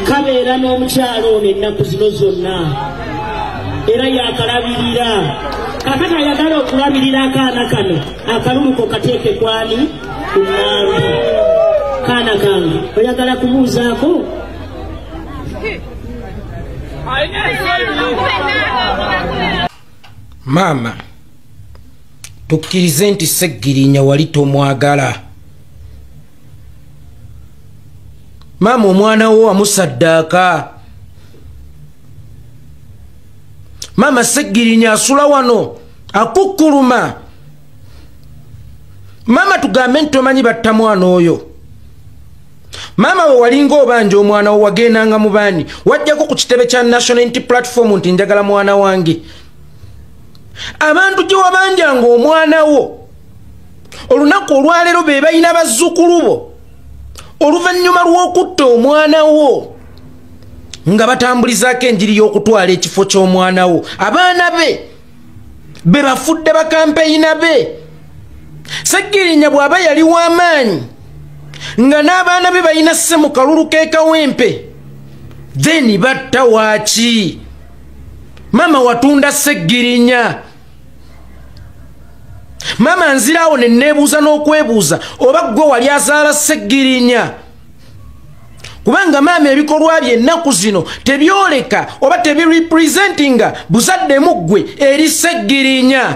kabeera n'omukyalo ono ennaku zino zonna era yakalabirira kakati ayagala okulabirira akaana kano akaluluko kateeke kwani kunaawe kaana kange oyagala kubuuzaako maama tukkirize nti seggirinya wali tomwagala maama omwana wo wamusaddaaka maama seggirinya asula wano akukkuluma maama tugambe nti tomanyi batta mwana oyo maama we walinga obanja omwana wo wagendanga mu baani wajjako ku kitebe kya nationality platform nti njagala mwana wange abantu gye wabanjanga omwana wo olunaku olwaleero be balina bazzukulu bo oluvannyuma lw'okutta omwana wo nga batambulizaako enjiri y'okutwala ekifo ky'omwana wo abaana be be bafudde bakampeyina be segirinya bw'aba yali w'amaanyi nga n'abaana be balina sse mu kalulu k'ekawempe then batta waaki maama watunda segirinya maama nziraawo ne neebuuza n'okwebuuza oba ggwe wali azaala seggirinya kubanga maama ebikolwa bye ennaku zino tebyoleka oba tebirepresentinga buzaddemu ggwe eri seggirinya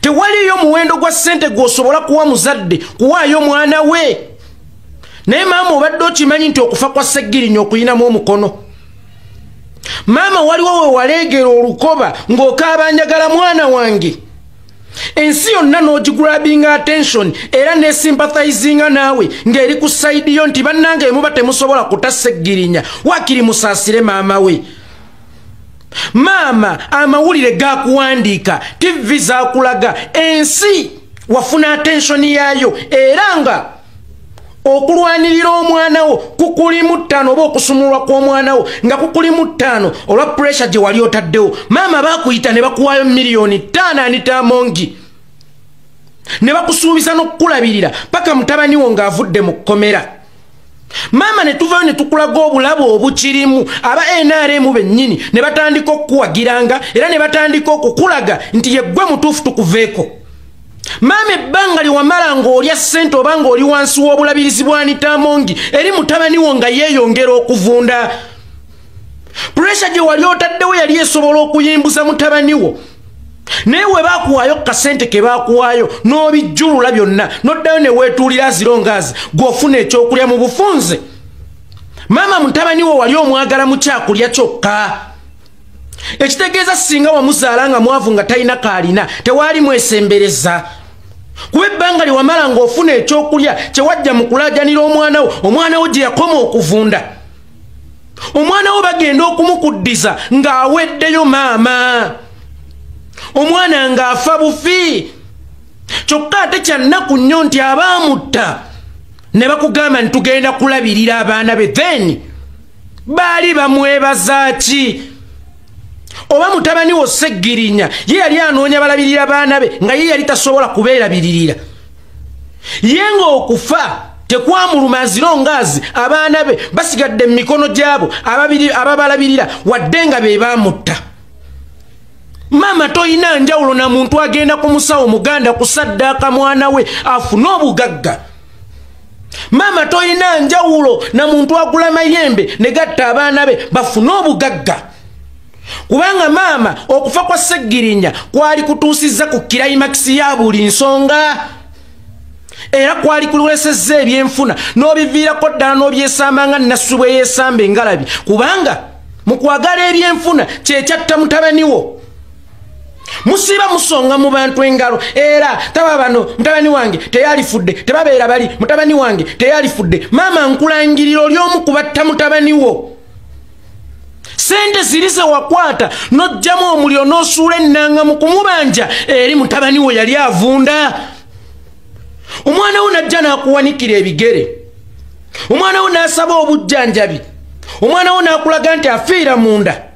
tewaliyo muwendo gwa ssente gw'osobola kuwa muzadde kuwaayo mwana we naye maama obadde okimanyi nti okufa kwa seggirinya okuyinamu omukono maama waliwo wewaleegera olukoba ng'okaaba njagala mwana wange ensi yonna n'ogigrabinga attention era nesympathizinga naawe ng'eri ku sayidi yo nti bannanga emuba temusobola kutasa eggirinya wakiri musaasire maama we maama amawulire gakuwandiika tivvi zakulaga ensi wafuna attention yaayo era nga okulwanirira omwana wo kukulimu ttaano oba okusumulwa kw'omwana wo nga kukulimu ttaano olwa puresha gye wali otaddewo maama bakuyita ne bakuwaayo miliyoni ttaano anitamongi ne bakusuubiza n'okukulabirira paka mutabani wo ng'avudde mu kkomera maama ne tuvayo ne tukulaga obulabe obukirimu aba nrm bennyini ne batandika okukuwagiranga era ne batandika okukulaga nti yeggwe mutuufu tukuveeko maama ebbanga lyewamala ng'olya ssente oba ng'oli wansi w'obulabirizi bwanitaamongi eri mutabani wo nga yeeyongera okuvunda puresha gye wali otaddewo yali esobola okuyimbuza mutabani wo naye we bakuwaayo ku kasente ke bakuwaayo n'obijjulula byonna n'oddayo ne weetuulira aziro ngaazi gw'ofuna ekyokulya mu bufunze maama mutabani wo wali omwagala mu kyakulya kyokka ekitegeeza singa wamuzaala nga mwavu nga talina kaalina tewaali mwesembereza kuba ebbanga lye wamala ng'ofuna ekyokulya kye wajja mu kulaajanira omwana wo omwana wo gye yakoma okuvunda omwana wo bagenda okumukuddiza ng'aweddeyo maama omwana ng'afa bufi kyokka ate kyannaku nnyo nti abaamutta ne bakugamba nti tugenda kulabirira abaana be then baali bamwebaza ki oba mutabani wo seggirinya ye yali anoonya balabirira baana be nga ye yali tasobola kubeerabiririra ye ng'okufa tekwamuluma azira ongaazi abaana be basigadde mu mikono gy'abo ababalabirira wadde nga be baamutta maama tolina njawulo na muntu agenda ku musawo muganda kusaddaaka mwana we afune obugagga maama tolina njawulo na muntu agula mayembe ne gatta abaana be bafune obugagga kubanga maama okufa kwa seggirinya kwali kutuusizza ku kirayimagisi ya buli nsonga era kwali kulwesezza ebyenfuna n'obiviirako ddala n'obyesamba nga nassu bwe yeesamba engalabi kubanga mu kwagala ebyenfuna kyekyatta mutabaniwo musiiba musonga mu bantu engalo era taba bano mutabani wange teyalifudde tebabeera bali mutabani wange teyalifudde maama nkulangirira oli omu kubatta mutabani wo sente ziri zewakwata nojjamu omuliro nosuula ennanga mu kumubanja eri mutabani wo yali avunda omwana wo najja nakuwanikira ebigere omwana wo nasaba obujjanjabi omwana wo nakulaga nti afiira munda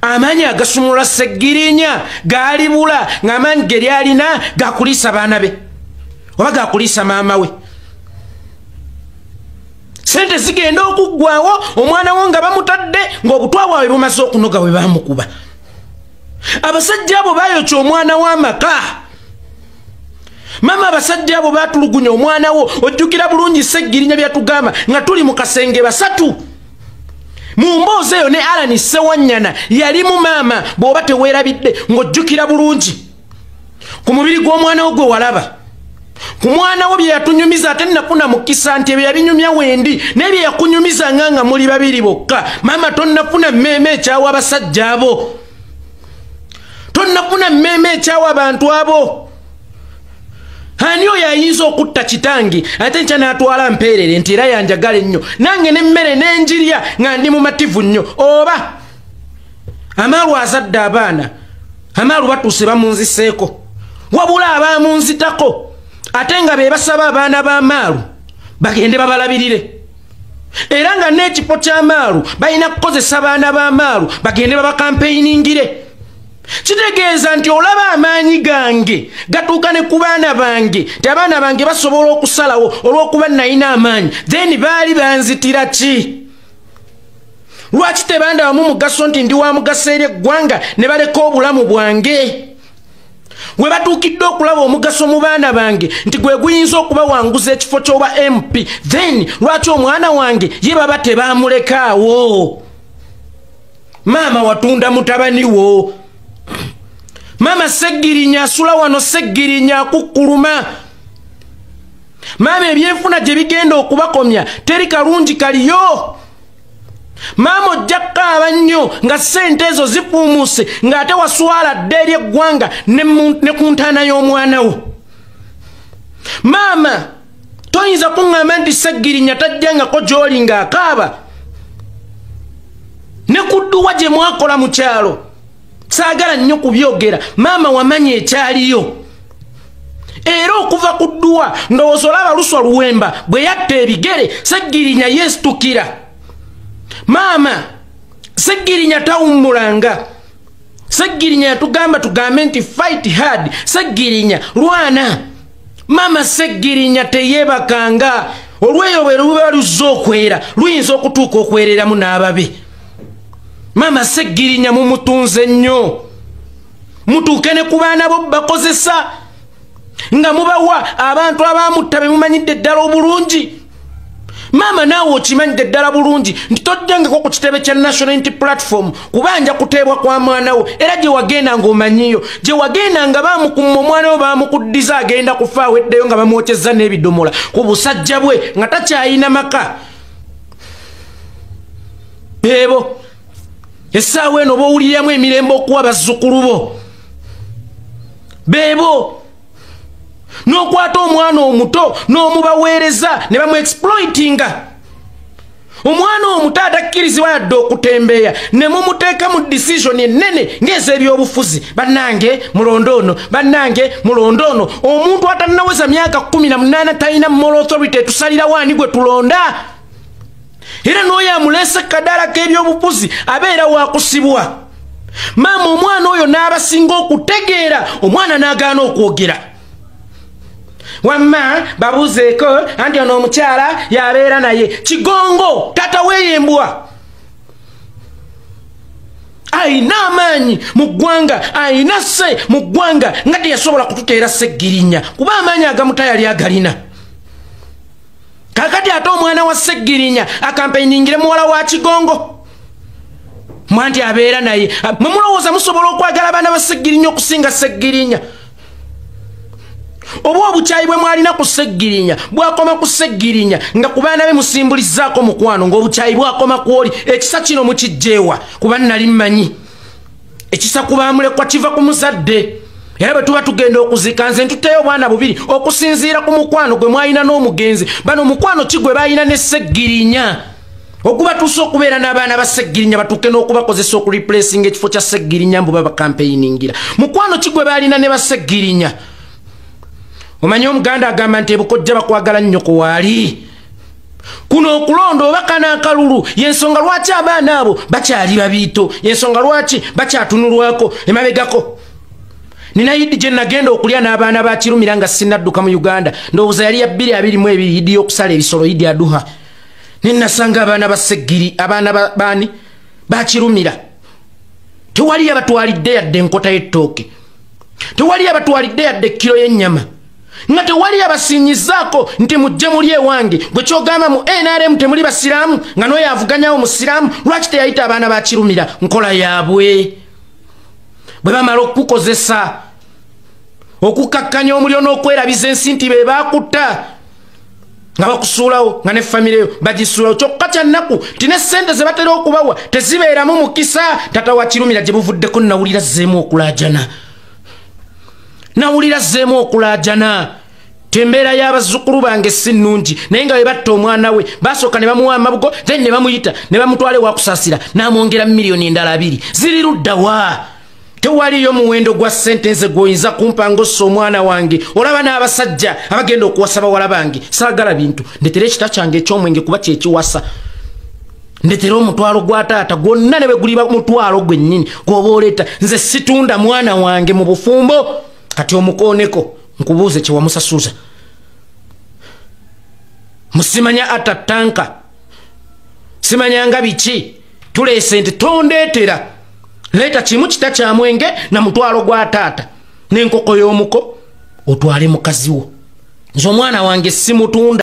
amaanyi agasumulula seggirinya gaalibula ng'amaanyi ge lyalina gakuliisa baana be oba gakuliisa maama we sente zigenda okuggwawo omwana wo nga bamutadde ng'obutwa bwawe bumaze okunoga bwe bamukuba abasajja abo bayokya omwana w'amaka maama abasajja abo batulugunya omwana wo ojjukira bulungi seggirinya byatugamba nga tuli mu kasenge basatu mu mboozi eyo ne alani sewanyana yalimu maama bw'oba teweerabidde ng'ojjukira bulungi ku mubiri gw'omwana wo gwe walaba ku mwana wo bye yatunyumiza ate nnafuna mukisa nti ebyo yabinyumya wendi naye bye yakunyumiza nga nga muli babiri bokka maama tonnafuna mmeeme ekyawa abasajja abo tonnafuna mmeeme ekyawa abantu abo ani oyo ayinza okutta kitange ate nkya n'atwala mpeerere nti era yanjagala ennyo nange n'emmere n'enjirya nga ndi mumativu nnyo oba amaalu azadde abaana amaalu batuuse bamunziseeko wabula abaamunzitako ate nga be basaba abaana b'amaalu bagende babalabirire era nga n'ekifo ky'amaalu balina kukozesa abaana b'amaalu bagende babakampeyiningire kitegeeza nti olaba amaanyi gange gatuuka ne ku baana bange nti abaana bange basobola okusalawo olw'okuba nalina amaanyi then baali banzitira ki lwaki tebandabamu mugaso nti ndi wa mugaso eri eggwanga ne baleka obulamu bwange we batuukidde okulaba omugaso mu baana bange nti gwe guyinza okubawanguza ekifo ky'oba mp then lwaki omwana wange ye baba tebaamulekaawo maama watunda mutabani wo maama seggirinya asula wano seggirinya akukkuluma maama ebyenfuna gye bigenda okubakomya teri kalungi kaliyo maama ojja kukaaba nnyo nga ssente ezo zifuumuuse ng'ate waswala dda eri eggwanga ne ku ntaana y'omwana wo maama toyinza kuŋŋamba nti seggirinya tajjangako gy'oli ng'akaaba ne ku dduwa gye mwakola mu kyalo saagala nnyo kubyogera maama wamanya ekyaliyo era okuva ku dduwa ndowooza olaba luswa luwemba bwe yatta ebigere seggirinya yeesitukira maama seggirinya tawummulanga seggirinya yatugamba tugambe nti fight hard seggirinya lwana maama seggirinya teyeebakanga olweyo bwe luba luzze okwera luyinza okutuuka okwereramu n'ababe maama seggirinya mumutunze nnyo mutuuke ne ku baana bo bakozesa nga mubawa abantu abamutta bemumanyidde ddala obulungi maama naawe okimanyidde ddala bulungi nti toddengeko ku kitebe kya national unity platform kubanja kuteebwa kwa mwana wo era gye wagenda ng'omanyiyo gye wagenda nga baamukumma omwana wo baamukuddiza agenda kufa aweddeyo nga bamwokyezza n'ebidomola ku busajja bwe nga takyayina maka beebo essaawa eno oba owuliriramu emirembe okuwa bazzukulu bo beebo n'okwata omwana omuto n'omubaweereza ne bamuexploitinga omwana omuto atakkirizibwa yadde okutembeeya ne mumuteeka mu disisioni ennene ng'ez'ebyobufuzi bannange mulonde ono bannange mulonde ono omuntu atannaweza myaka kumi na munaana talina moral authority etusalirawo ani gwe tulonda era n'oyo amuleese kadaala k'ebyobufuzi abeera wakusibwa maama omwana oyo n'abasinga okutegeera omwana n'agaana okwogera wamma babuuzeeko anti ono omukyala yabeera naye kigongo tata weeyembwa ayina amaanyi mu ggwanga ayina se mu ggwanga nga teyasobola kututeera seggirinya kuba amaanyi agamutayali agalina kakati ate omwana wa seggirinya akampeyiningire muwala wa kigongo mwanti abeera naye mwemulowooza musobola okwagala abaana ba seggirinya okusinga seggirinya oba obukyayi bwe mwalina ku seggirinya bwakoma ku seggirinya nga ku baana be musimbulizaako mukwano ng'obukyayi bwakoma kwoli ekisa kino mukijjeewa kuba nali mmanyi ekisa ku bamulekwa kiva ku muzadde era bwe tuba tugenda okuzika nze ntuteyo obwana bubiri okusinziira ku mukwano gwe mwalina n'omugenzi bano omukwano ki gwe balina ne seggirinya okuba tuusa okubeera n'abaana ba seggirinya batuuke n'okubakozesa okureplacinga ekifo kya seggirinya mbu babakampeiningira mukwano ki gwe baalina ne baseggirinya omanyi omuganda agamba nti ebukojja bakwagala nnyo kuwaali kuno okulonda oba kana akalulu yensonga lwaki abaana abo bakyali babiito yensonga lwaki bakyatunulwako emabegako nina yidi gye nagenda okulya n'abaana bakirumira nga sinadduka mu uganda ndowooza yali ya bbiri abiri mu ebiri yidi y'okusala ebisolo yidi aduha naye nasanga abaana ba seggiri abaana baani bakirumira tewali yabatwalidde yadde enkota y'ettooke tewali yabatwalidde yadde ekkiro y'ennyama nga tewali yabasinyizaako nti mujje muli ewange gwe kyogamba mu nrm temuli basiraamu nga noyo avuganyawo musiraamu lwaki teyayita abaana bakirumira nkola yaabwe bwe bamala okukukozesa okukakkanya omuliro n'okwerabiza ensi nti be baakutta nga bakusuulawo nga ne famire yo bagisuulawo kyokka kyannaku nti ne ssente ze batera okubawa tezibeeramu mukisa tata wakirumira gye buvuddeko nawulira zzeemu okulaajana nawulira zzeemu okulaajana tembeera y'abazzukulu bange si nnungi naye nga webatta omwana we basooka ne bamuwa amabugo then ne bamuyita ne bamutwala ewakusasira n'amwongera mu miliyoni endala abiri ziri ludda wa tewaliyo muwendo gwa ssente nze gwoyinza kumpa ngaossa omwana wange olaba n'abasajja abagenda okuwasa bawala bange saagala bintu ndetera ekita kyange eky'omwenge kuba kyekiwasa ndetera omutwalo gwa taata gwonna ne bwe guliba mutwalo gwennyini gwoba oleeta nze situunda mwana wange mu bufumbo kati omukooneko nkubuuze kyewamusasuza musimanya atta tanka simanya nga biki tuleese nti tondeetera leeta kimu kita kya mwenge na mutwalo gwa taata n'enkoko y'omuko otwale mukazi wo nze omwana wange simutunda